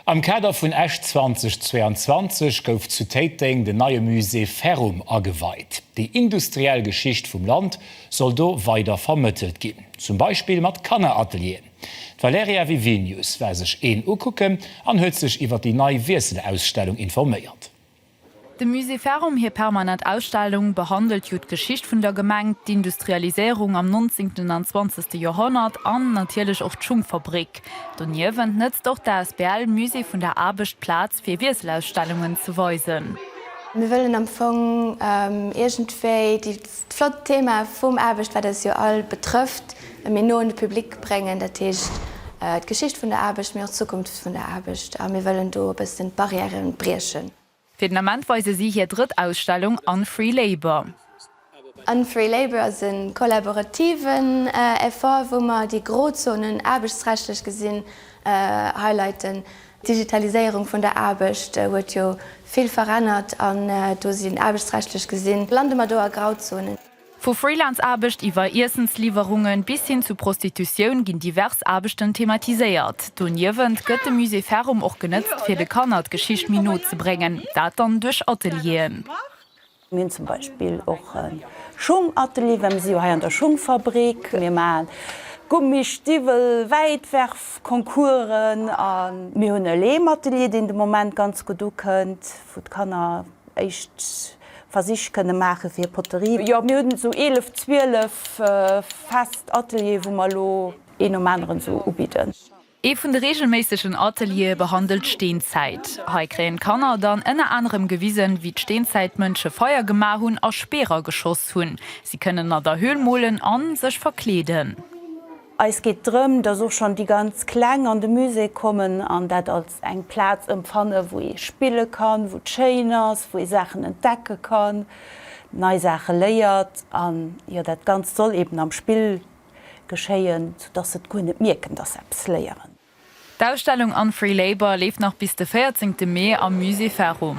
Am Kader vun Esch 2022 gouf zu Téiteng den neie Musée Ferrum ageweit. Déi industriell Geschicht vum Land soll do weider vermëttelt ginn, zum Beispill mat Kanneratelieren. D'Valerija Vivinius war sech een ukucken an huet sech iwwer déi nei Wiesselausstellung informéiert. Dem Musée Farum hir permanent Ausstellung behandelt jo d'Geschicht vun der Gemeng, d'Industrialiséierung am nonzéngten an zwanzegste Joerhonnert an natierlech och d'Schungfabrik. Doniewent nëtzt och d'asbl Musée vun der Aarbecht d'Plaz fir Wiesselausstellungen ze weisen. Mir wëllen am Fong iergendwéi déi. Flott Thema vum Aarbecht, wat eis jo all betrëfft, e méi no un de Public bréngen, dat heescht d'Geschicht vun der Aarbecht, mee och d'Zukunft vun der Aarbecht. A mir wëllen do e bëssen d'Barrièrë briechen. Fir den Ament weise si hir drëtt Ausstellung Unfree Labour. Unfree Labour ass e kollaborativen Effort, wou mer déi Grozonen, aarbechtsrechtlech gesinn, highlighten. D'Digitaliséierung vun der Aarbecht huet jo vill verännert an do sinn, aarbechtsrechtlech gesinn, lande mer do a Grauzonen. Vu Freelance-Aarbecht iwwer Iessensliwwerungen bis hin zu Prostitutioun ginn divers Aarbechten thematiséiert. Doniewent gëtt de Musée Farum och genëtzt fir de Kanner d'Geschicht méi no ze bréngen, dat dann duerch Atelieren. Mir hunn zum Beispill och e Schung-Atelier, well mir si jo hei an der Schungfabrik. Mir maachen Gummi-, Stiwwel-, Wäitwerf-Concoursen. A mir hunn e Leem-Atelier, deen de Moment ganz gutt ukënnt, wou d'Kanner éischt Versich kënne maache fir hir Poterie. Jo, mir hunn esou eelef, zwielef fest Ateliere, wou mer elo een nom aneren esou ubidden. Ee vun de reegelméissegen Ateliere behandelt d'Steenzäit. Hei kréien d'Kanner dann ënner anerem gewisen, wéi d'Steenzäitmënsche Feier gemaach hunn a Speerer geschoss hunn. Si kënnen an der Höhl molen an sech verkleeden. Eis geet drëm, dass och schonn déi ganz Kleng an de Musée kommen an dat als eng Plaz ëmfannen, wou ee spille kann, wou et schéin ass, wou ee Saachen entdecke kann, nei Saache léiert. An jo, dat Ganzt soll eben am Spill geschéien, sou dass se et guer net mierken, dass se eppes léieren. D'Ausstellung Unfree Labour leeft nach bis de 14 Mee am Musée Farum.